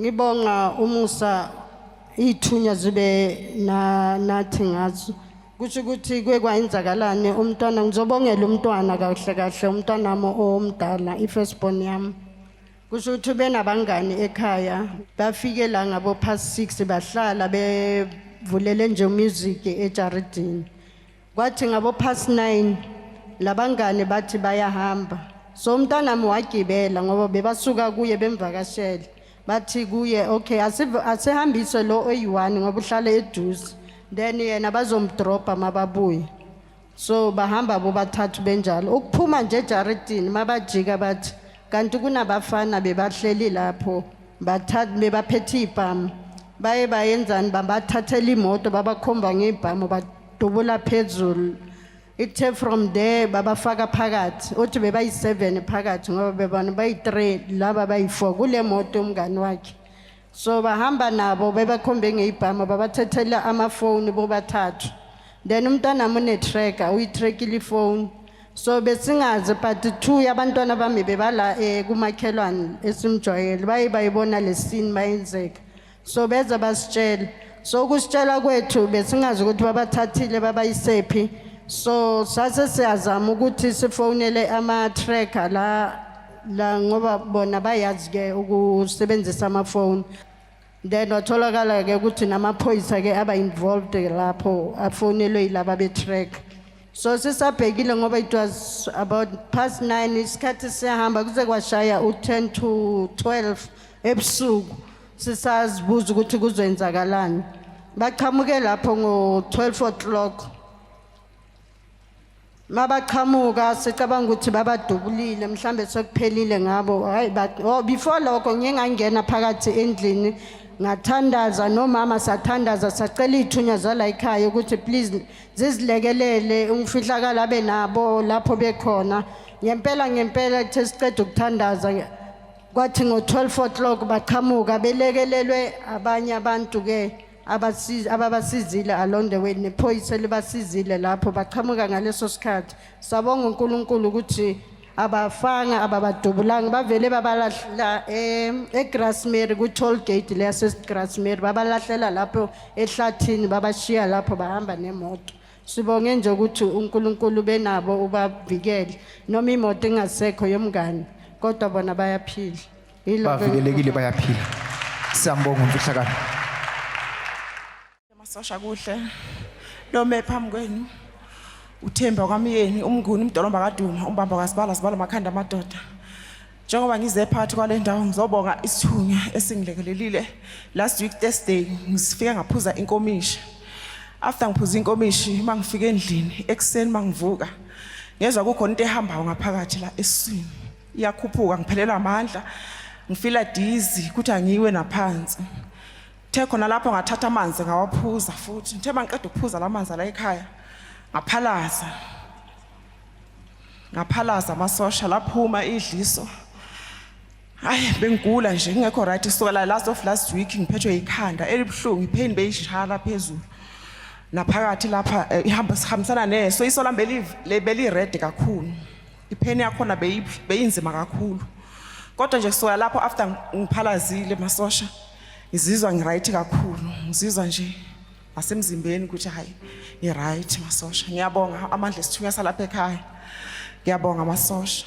Ngibonga umusa ithunya zibe na nathi ngazo. Kusho ukuthi kuye kwayenzakalani umntwana ngizobongela umntwana kahle kahle umntwana wami omdala i-first born yami. Kusho ukuthi benabangani ekhaya bafike la ngabo past 6 bahlala bevulele nje music ejaridini. Kwathi ngabo past 9 labangane bathi bayahamba. So umntanami wagibela ngoba bebasuka kuye bemvakashele. Bathi kuye okay asiv- asihambise lo oyi-1 ngoba uhlala eduze. Then yena bazomdropa mababuye. So bahamba bobathathu benjalo. Ukuphuma nje ejaridini mabajika bathi kanti kunabafana bebahleli lapho bathatha bebaphethe ibhamu. Baye bayenzani babathathela imoto babakhomba ngebhamu ba- dubula phezulu ithe from there babafaka phakathi uthi bebayi-seven phakathi ngoba bebona bayi-three laba bayi-four kule moto umngani wakhe so bahamba nabo bebakhombe ngeyibhama babathethela amafoni bobathathu then umntanami unetracker uyitrackile ifoni so besingazi but two yabantwana bami bebala um kumakhelwane esimjwayele baye bayibona le sini bayenzeka so beza basitshela so ukusitshela kwethu besingazi ukuthi babathathile babayisephi so sase siyazama ukuthi sifonele ama-tracker la la ngoba bona bayazi-ke ukusebenzisa amafoni then watholakala-ke ukuthi namaphoyisa-ke aba-involved lapho afonelwe yilaba be-tracker so sisabhekile ngoba it was about past 9 isikhathi siyahamba kuze kwashaya u10 to 12 ebusuku sisazibuza ukuthi kuzoyenzakalani baqhamuke lapho ngo-12 o'clock mabaqhamuka sicabanga ukuthi babadubulile mhlambe sekuphelile ngabo hayi oh, before lokho ngiye ngangena phakathi endlini ngathandaza nomama sathandaza sacela iy'thunya zala yikhaya ukuthi please zizilekelele umfihlakalo abe nabo lapho bekhona ngempela ngempela kuthe siqeda ukuthandaza kwathi ngo-12 o'clock baqhamuka belekelelwe abanye abantu-ke ababasizile along the way nephoyisa libasizile lapho baqhamuka ngaleso sikhathi sabonga unkulunkulu ukuthi abafana ababadubulanga bavele babalahla em, egrasmary kwi-toll gate le yasegrasmary babalahlela lapho ehlathini babashiya lapho bahamba nemoto sibonge nje ukuthi unkulunkulu benabo ubavikele noma imoto ingasekho yomngane kodwa bona bayaphila Yilokho- bavikelekile bayaphila siyambonga umfihlakalo Amasosha kuhle nome phambi kwenu uthemba kwamyeni umnguni umdolomba kaduma umbamba kasibala sibala makhanda amadoda njengoba ngize phakathi kwale ndawo ngizobonga isithunywa esingilekelelile last week thursday ngisifike ngaphuza inkomishi after ngiphuza inkomishi uma ngifika endlini ekuseni uma ngivuka ngezwa kukhona into ehambayo ngaphakathi la esiswini iyakhuphuka ngiphelelwa amandla ngifila dizi kuthi angiwe naphansi Kuthe khona lapho ngathatha amanzi ngawaphuza futhi. Ngithe mangiqeda ukuphuza la manzi ala ekhaya ngaphalaza. Ngaphalaza amasosha laphuma idliso. Hayi bengigula nje ngingekho right kusukela last of last week ngiphethwe ikhanda elibuhlungu ipain beyishala phezulu. Naphakathi lapha eh, ihamba sihambisana neso iso lambe beli red kakhulu. ipain yakhona beyi- beyinzima kakhulu kodwa nje kusuka lapho after ng- ngiphalazile masosha ngizizwa ngiright kakhulu ngizizwa nje nasemzimbeni ukuthi hayi ngiright masosha ngiyabonga amandla esithunywa salapha ekhaya ngiyabonga masosha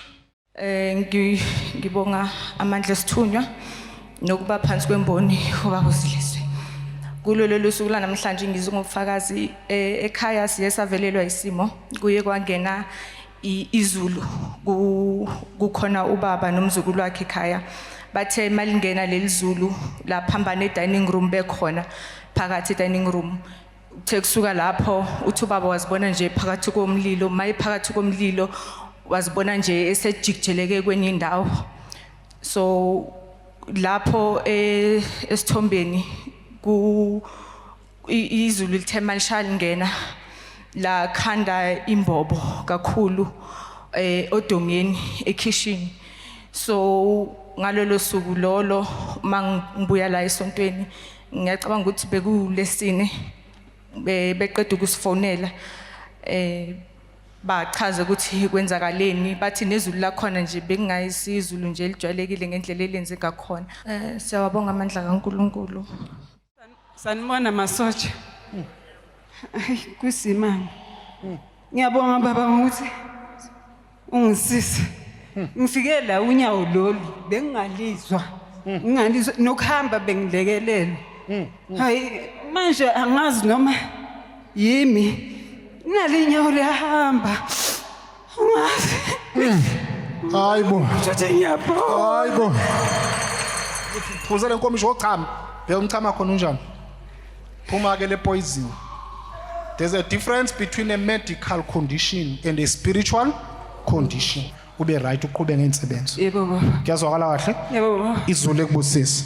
Eh ngi- ngibonga amandla esithunywa nokuba phansi kwemboni ubaba usilise. Kulo lolu suku lanamhlanje ngizungufakazi eh, ekhaya siye savelelwa isimo kuye kwangena izulu kukhona ubaba nomzukulu wakhe ekhaya bathe malingena leli zulu laphambana e-dining room bekhona phakathi e-dining room uthe kusuka lapho uthi ubaba wazibona nje phakathi komlilo maye phakathi komlilo wazibona nje esejikijeleke kwenye indawo so lapho e, esithombeni ku I- izulu lithe malishaya lingena lakhanda imbobo kakhulu eh odongeni ekhishini so ngalolo suku lolo mangibuya la esontweni ngiyacabanga ukuthi bekulesine be- beqeda ukusifonela eh bachaze ukuthi kwenzakaleni bathi nezulu lakhona nje bekungayisizulu nje elijwayelekile ngendlela elenze ngakhona Eh, siyawabonga amandla kaNkuluNkulu. Sanibona masotsha. Hmm. Kusimama. Hmm. Ngiyabonga baba ngokuthi ungisise. Hmm. Ngifike la unyawo lolu bengingalizwa. Ngingalizwa nokuhamba bengilekelela. Hayi manje angazi noma yimi. Nali inyawo liyahamba. Hayi bo. Thathe inyapho. Hayi bo. Phuza le nkomishi wochama. Bheka umchama khona unjani? Phuma ke le poison. There's a difference between a medical condition and a spiritual condition. Ube right uqhube ngensebenzo. Yebo baba. Kuyazwakala kahle? Yebo baba. Izulu ekubusisa.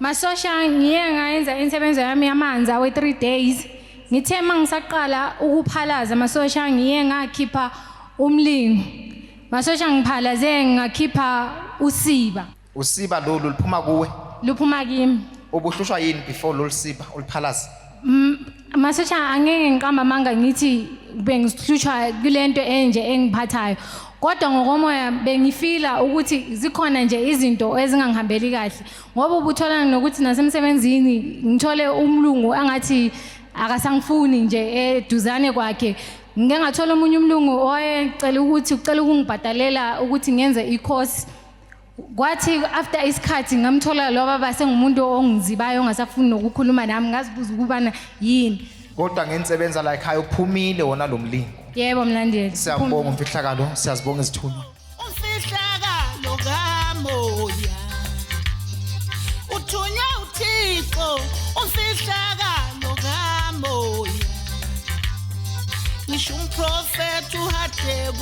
Masosha ngiye ngayenza insebenzo yami yamanzi awe 3 days. Ngithe mangisaqala ukuphalaza masosha ngiye ngakhipha umlingo. Masosha ngiphalaze ngakhipha usiba. Usiba lolu liphuma kuwe? Luphuma kimi. Ubuhlushwa yini before lolu siba uliphalaza? Masosha angeke ngiqamba amanga ngithi bengihlushwa kulento enje engiphathayo kodwa ngokomoya bengifila ukuthi zikhona nje izinto ezingangihambeli kahle ngoba ubuthola nokuthi nasemsebenzini ngithole umlungu angathi akasangifuni nje eduzane kwakhe ngike ngathola omunye umlungu owayecela ukuthi ucela ukungibhadalela ukuthi ngenze i-course kwathi after isikhathi ngamthola lo baba sengumuntu ongizibayo ongasafuni nokukhuluma nami ngazibuza ukubana yini kodwa ngenisebenza la ekhaya uphumile wona lo mlingo yebo mlandeli siyabonga umfihlakalo siyazibonga izithunywa umfihlakalo kamoya uthunywa uthixo umfihlakalo kamoya ngisho umprofethi uhadebe